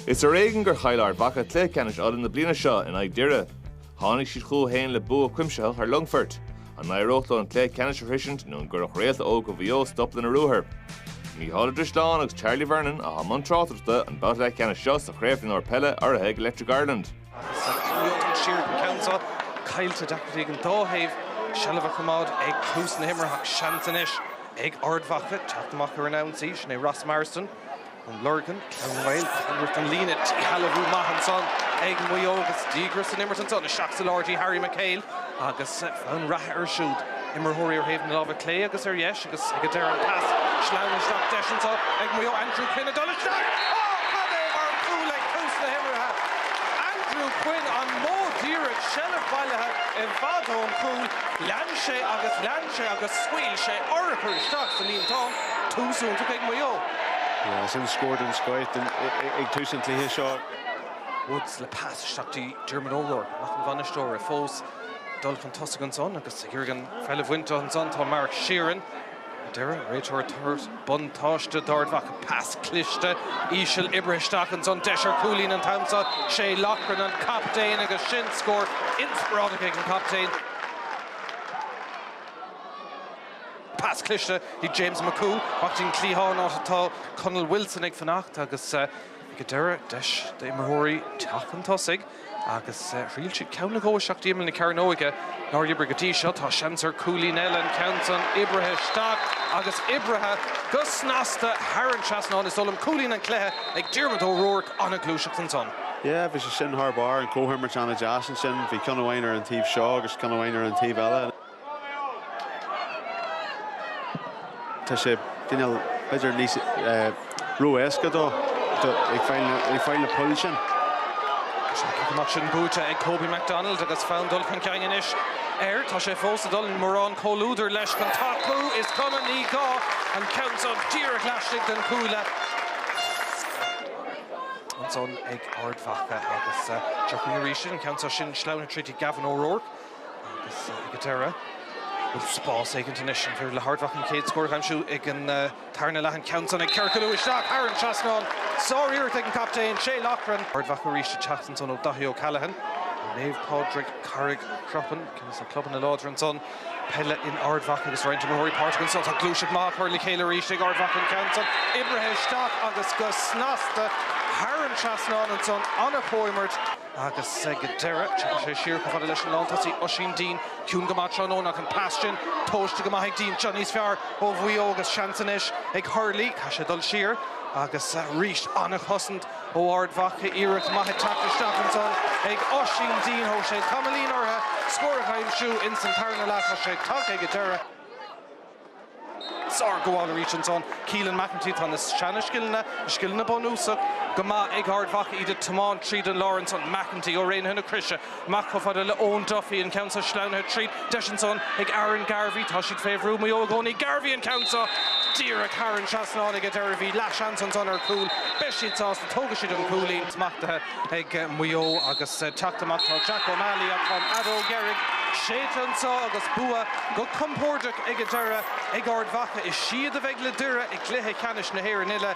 Is ar éigean gur chaill Ard Mhacha cluiche ceannais Uladh na bliana seo in aghaidh Doire. Tháinig siad chucu féin le bua cuimsitheach ar Longfort. An n-éireodh leo an cluiche ceannais a shroisint nó an gcuirfeadh réalta óga Mhaigh Eo stop lena ruathar? Mícheál Ó Drisleáin agus Charlie Vernon a sholáthair tráchtaireacht an babhta leathcheannais seo sa Chraobh Mhionúir Peile urraithe ag Electric Ireland. Agus an t-aon siar den ceann seo, caillte, deacracht ag an dá thaobh seilbh a choimeád ag tús na himeartha ach seans anois ag Ard Mhacha teacht amach ar an ionsaí. Sea, sin é Ross Marsden, An Lorgain, Clann Éireann, Tallaght an líne. Díshealbhú maith ansan ag Maigh Eo agus díograis san imirt ansan. Isteach sa lár dtí Harry McHale agus fonn reatha air siúd, imreoirí ar thaobh na lámha clé agus ar dheis. Agus ag an deireadh, an pas sleamhain isteach deis ansan ag Maigh Eo, Andrew Quinn ag dul isteach. Ó, cad é mar chúl ag tús na himeartha! Andrew Quinn, an modh díreach, seilbh bailithe i bhfad ón chúl, lean sé agus lean sé agus scaoil sé urchar isteach sa líontán. Tús iontach ag Maigh Eo. Sin scór den scoith ag tús an chluiche seo. Woods le pas isteach dtí Diarmuid O'Rourke, mac an bhainisteora fós. dul chun tosaigh ansan agus ag iarraidh an pheil a bhaint ansan. Tá Mark Sheeran ar deireadh, réiteoir tar éis, buntáiste d'Ard Mhacha, pas cliste, íseal, oibrithe isteach ansan, deis ar chúilín an t-am seo. Shay Loughran an captaen agus sin scór inspioráideach ag an gcaptaen. Pas cliste chuig James McCooe, ón gcliathán, áit atá Conall Wilson ag fanacht agus. Ag an deireadh, deis d'imreoirí teacht chun tosaigh agus thriail siad ceann nó dhó isteach d'imeall na cearnóige. Nár oibrigh go dtí seo, tá seans ar chúilín eile, an ceann san oibrithe isteach agus oibrithe go snasta thar an trasnán. Is dóigh liom cúilín an cluiche ag Diarmuid O'Rourke, an-ghluaiseacht ansan. Yeah, bhí sé sin thar barr, an comhimirt an-deas ansin, bhí ceann amháin ar an taobh seo agus ceann amháin ar an taobh eile. Tá sé ag déanamh b'fhéidir níos ró-éasca dó ag fáil na poill sin. Tá sé taobh amuigh sin buaite ag Kobe McDonald agus fonn dul chun cinn anois air. Tá sé fós ag dul, gan mórán comhluadair leis chun tacú is cuma ní gá an ceann seo díreach laistigh den gcúl ansan ag Ard Mhacha agus droch-chic arís ansin, an ceann seo sin sleamhnaithe tríd Gavin O'Rourke. Agus ag an deireadh, bhuel, spás éigin anois an bhféidir le hArd Mhacha an chéad scór a aimsiú ag an tarna leath, an, ceann san ag ciorcalú isteach thar an trasnán, sáriarracht ag an gcaptaen, Shay Loughran. Ard Mhacha arís ag teacht ansan ó Daithí O'Callaghan, Naomh Pádraig, Carraig Chropáin, ceann des na clubanna láidre ansan, peile in Ard Mhacha agus roinnt imreoirí páirteach ansan. Tá gluaiseacht maith á chur le chéile arís ag Ard Mhacha, an ceann san oibrithe isteach agus go snasta thar an trasnán ansan, an-chomhimirt. Agus go deireadh, téann sé siar chomh fada leis an lántosaí Oisín Dean. Ciúin go maith tráthnóna ach an pas sin tomhaiste go maith ag Dean. Seo níos fearr ó Mhaigh Eo agus seans anois ag Hurley. Caithfidh sé dul siar. Agus arís an-chosaint ó Ard Mhacha. Iarracht maith ag teacht isteach ansan ag Oisín Dean. Thóg sé tamaillín orthu scór a aimsiú ins an tarna leath. Tá sé tagtha ag an deireadh. sár gabháil arís ansan Keelan McEntee. Tá na seana scileanna, na scileanna bunúsach, go maith ag Ard Mhacha, iad ag tiomáint tríd an lár ansan. McEntee ó Raonaithe na Croise amach chomh fada le Eoin Duffy, an ceann seo sleamhnaithe tríd. Deis ansan ag Aaron Garvey, tá siad fé bhrú Maigh Eo i gcónaí. Garvey an ceann seo díreach thar an trasnán aige. Déarfá go raibh leathsheans ansan ar chúl. Beidh siad sásta. Tógfaidh siad an cúilín smachtaithe. ag Maigh Eo agus teacht amach. Tá Jack O'Malley, atá an fheadóg dheiridh, séidte anseo agus bua go compordach ag an deireadh ag Ard Mhacha. Is iad a bheidh le Doire i gcluiche ceannais na hÉireann uile.